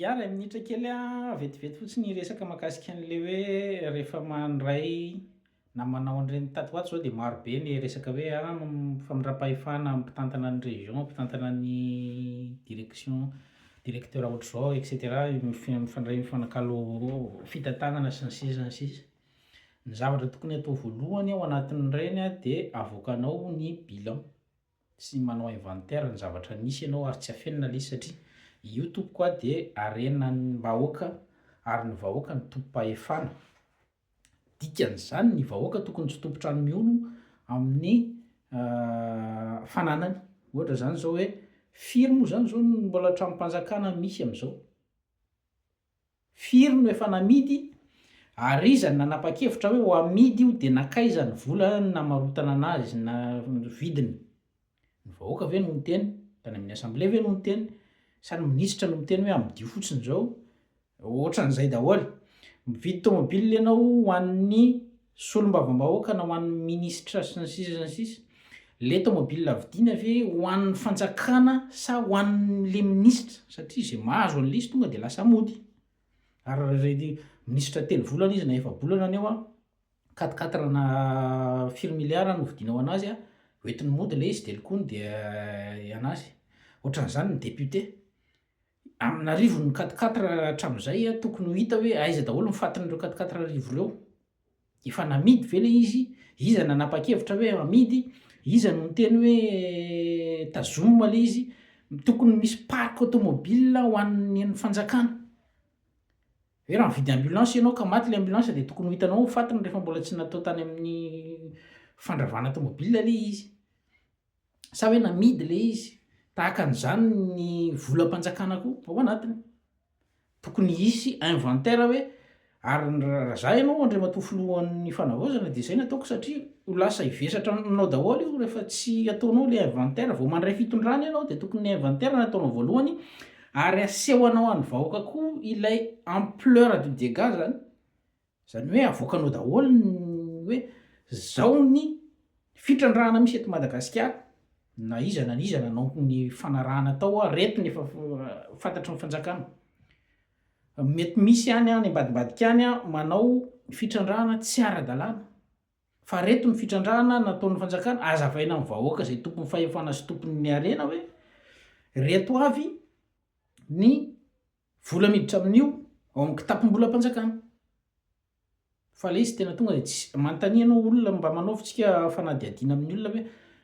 Yah iray minitra kely a, vetivety fotsiny hiresaka makasika an'le hoe rehefa mandray na manao an'ireny tatoato zao de maro be ny resaka hoe a famindram-pahefana mpitantana ny région, mpitantana ny direction, directeur ohatr'izao et cetera mifandray mifanakalo fitantanana sy ny sisa sy ny sisa. Ny zavatra tokony atao voalohany ao anatin'ireny a de avoakanao ny bilan. sy manao inventaire ny zavatra nisy ianao ary tsy afenina lesy satria io tompoko a dia harenan'ny mbahoaka ary ny vahoaka no tompom-pahefana dikan'izany ny vahoaka tokony tsy tompon-trano mihono amin'ny fananany ohatra izany izao hoe firy moa izany izao ny mbola tranom-panjakana misy amin'izao? Firy no efa namidy ary iza no nanapa-kevitra hoe ho amidy io dia nankaiza ny vola namarotana anazy na vidiny? Ny vahoaka ve no miteny? Tany amin'ny assemblée ve no miteny? Sa ny minisitra no miteny hoe amidio fotsiny izao? Ohatran'izay daholo. Mividy tomobile ianao ho an'ny Solombavambahoaka na ho an'ny minisitra sy ny sisa sy ny sisa? Le tomobile vidiana ve ho an'ny fanjakana sa ho an'le minisitra? Satria ze mahazo an'le izy tonga de lasa mody. Ary reny minisitra telo volana izy na efa-bolana any eo a, quatre quatre na firy milliards no vidiana ho anazy a, hoentiny mody le izy de lokony de anazy. Ohatran'zany ny député. amin'arivony ny quatre quatre hatramin'izay a, tokony ho hita hoe aiza daholo ny fatin'ireo quatre quatre arivo ireo? Efa namidy ve ilay izy? Iza nanapa-kevitra hoe hamidy? Iza no niteny hoe tazomina ilay izy? Tokony misy parc automobile ho an'ny an'ny fanjakana. Hoe raha mividy ambulance ianao ka maty ilay ambulance dia tokony ho hitanao ny fatiny rehefa mbola tsy natao tany amin'ny fandravana tomobile ilay izy. Sa hoe namidy ilay izy? Tahaka an'izany ny volam-panjakana koa ao anatiny. Tokony hisy inventaire hoe ary raha za ianao Andriamatoa Filohan'ny Fanavaozana dia izay no ataoko satria ho lasa hivesatra aminao daholo io rehefa tsy ataonao ilay inventaire. Vao mandray fitondrana ianao dia tokony ny inventaire no ataonao voalohany ary asehonao an'ny vahoaka koa ilay ampleur du dégât izany. Izany hoe avoakanao daholo ny hoe zao ny fitrandrahana misy eto Madagasikara na iza na iza nanao ny fanarahana tao ary reto ny efa fantatry ny fanjakana. Mety misy any any ambadimbadika any manao fitrandrahana tsy ara-dalàna fa reto ny fitrandrahana nataon'ny fanjakana, azavaina amin'ny vahoaka izay tompon'ny fahefana sy tompon'ny harena hoe reto avy ny Vola miditra amin'io ao amin'ny kitapom-bolam-panjakana. Fa ilay izy tena tonga dia tsy, manontania ianao olona mba manaovintsika fanadihadiana amin'ny olona ve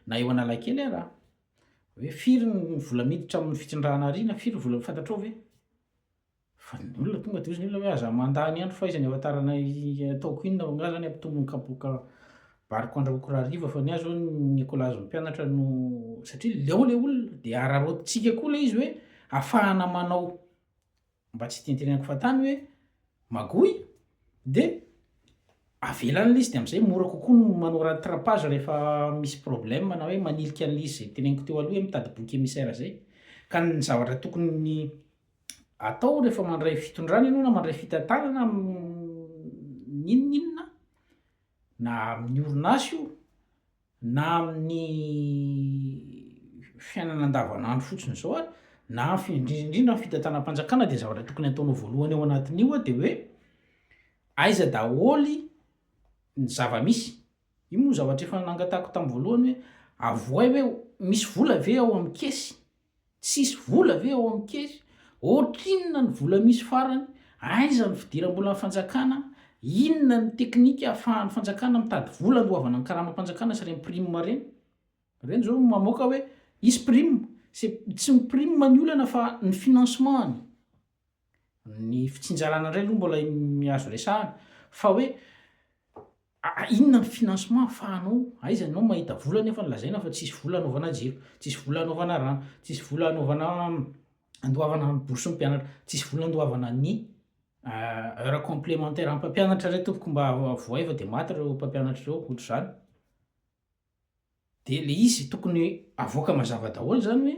na eo Analakely ara hoe firy ny vola miditra amin'ny fitsindrahana ary na firy ny vola fantatrao ve? Fa ny olona tonga dia hozy ny olona hoe aza mandany andro fahaizany hahafantarana ataoko inona, angaha izany hampitombo ny kapoaka Bariko andrahoiko raha hariva fa ny ahy zao ny kolazo ny mpianatra no satria le ao le olona de araraotintsika koa le izy hoe afahana manao mba tsy itentenenako fahatany hoe magouille de avela an'le izy de am'zay mora kokoa ny manao rattrapage rehefa misy problème na hoe manilika an'le izy zay teneniko teo aloha hoe mitady boky emissaire zay ka ny zavatra tokony atao rehefa mandray fitondrana ianao na mandray fitantanana n'inon'inona na amin'ny orinasa io na amin'ny fiainana andavanandro fotsiny izao ary na fi- indrindra indrindra ny fitantanam-panjakana dia zavatra tokony hataonao voalohany ao anatin'io a dia hoe aiza daholo ny zava-misy io moa zavatra efa nangatahiko tamin'ny voalohany hoe avohay hoe misy vola ve ao amin'ny caisse Tsisy vola ve ao amin'ny kery? Ohatrinona ny vola misy farany? Aiza ny fidiram-bolan'ny fanjakana? Inona ny teknika ahafahan'ny fanjakana mitady vola andoavana ny karamam-panjakana sy ireny prime ireny? Ireny izao mamoaka hoe hisy prime. C'est tsy ny prime ny olana fa ny financement-ny. Ny fitsinjarana indray aloha mbola azo resahana fa hoe inona ny financement ahafahanao, aiza anao mahita vola nefa lazaina fa tsisy vola anaovana jiro, tsisy vola anaovana rano, tsisy vola anaovana andoavana ny bourse ny mpianatra, tsisy vola andoavana ny heure complementaire an'ny mpampianatra re tompoko mba vohay fa dia maty ireo mpampianatra ireo ohatr'izany. Dia le izy tokony avoaka mazava daholo zany hoe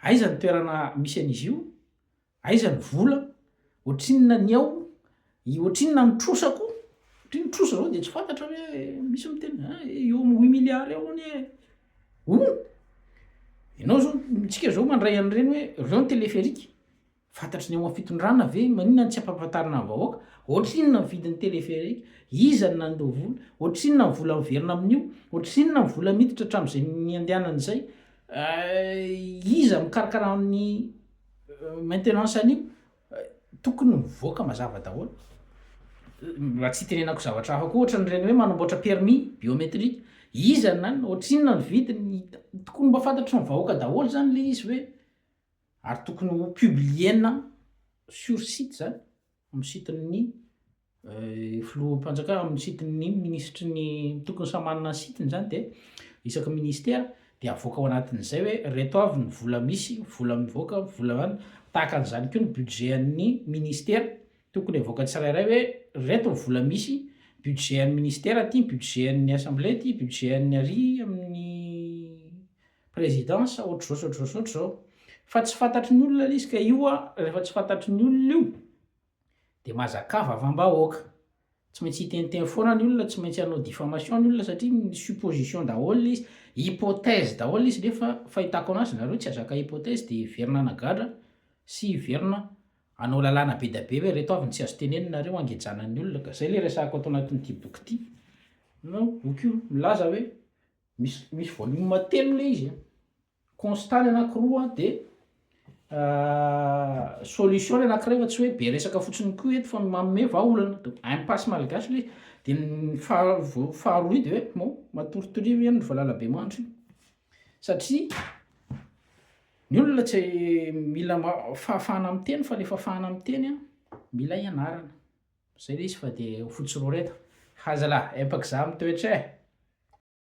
aiza ny toerana misy an'izy io, aiza ny vola, ohatrinona ny ao, ohatrinona ny trosa koa, satria ny trosa zao dia tsy fantatra hoe misy miteny a eo amin'ny huit milliards eo anie e, oh! ianao zao, tsika zao mandray an'ireny hoe reo ny téléphérique. Fantatry ny ao amin'ny fitondrana ve? Maninona no tsy ampahafantarina ny vahoaka? Ohatrinona ny vidin'ny téléphérique? Iza no nandoa vola? Ohatrinona ny vola miverina amin'io? Ohatrinona ny vola miditra hatramin'izay niandehanana izay? Iza mikarakara ny maintenance an'io? Tokony mivoaka mazava daholo. Mba tsy hitenenako zavatra hafa koa ohatran'ireny hoe manamboatra permis biométrique. Iza no nanana? Ohatrinona ny vidiny? Tokony mba fantatry ny vahoaka daholo izany ilay izy hoe. Ary tokony ho publiena sur site izany, amin'ny site-n'ny filoham-panjakana, amin'ny site-n'ny minisitry ny, tokony samy manana ny site-ny izany dia isaky ny ministera dia avoaka ao anatin'izay hoe ireto avy ny vola misy, vola mivoaka, vola an, tahaka an'izany koa ny budget an'ny ministera, tokony avoaka tsirairay hoe ireto ny vola misy, budget an'ny ministera ity, budget an'ny assemblée ity, budget an'ny ary amin'ny Président sa ohatr'izao sa ohatr'izao sa ohatr'izao fa tsy fantatry ny olona le izy ka io a rehefa tsy fantatry ny olona io de mazakà vavam-bahoaka tsy maintsy hiteniteny foana ny olona tsy maintsy hanao diffamation ny olona satria ny supposition daholo le izy hypothèse daholo le izy nefa fahitako anazy nareo tsy azaka hypothèse de hiverina hanagadra sy hiverina hanao lalàna be da be hoe reto avy ny tsy azo tenenina nareo hangejana ny olona ka zay le resahako ato anatin'ity boky ity na boky io milaza hoe Misy misy volume telo le izy a. Constat ny anakiroa a de solution ny anakiray fa tsy hoe be resaka fotsiny koa eto fa manome vahaolana. Donc impasse malgache le izy. De ny faha- vo- faharoa io de hoe bon matory torivo ianao ry valalabemandry io. Satria ny olona tsy mila ma- fahafahana miteny fa le fahafahana miteny a mila ianarana. Zay le izy fa de ho fotsy roreta. Hazalahy empaka za mitoetra e!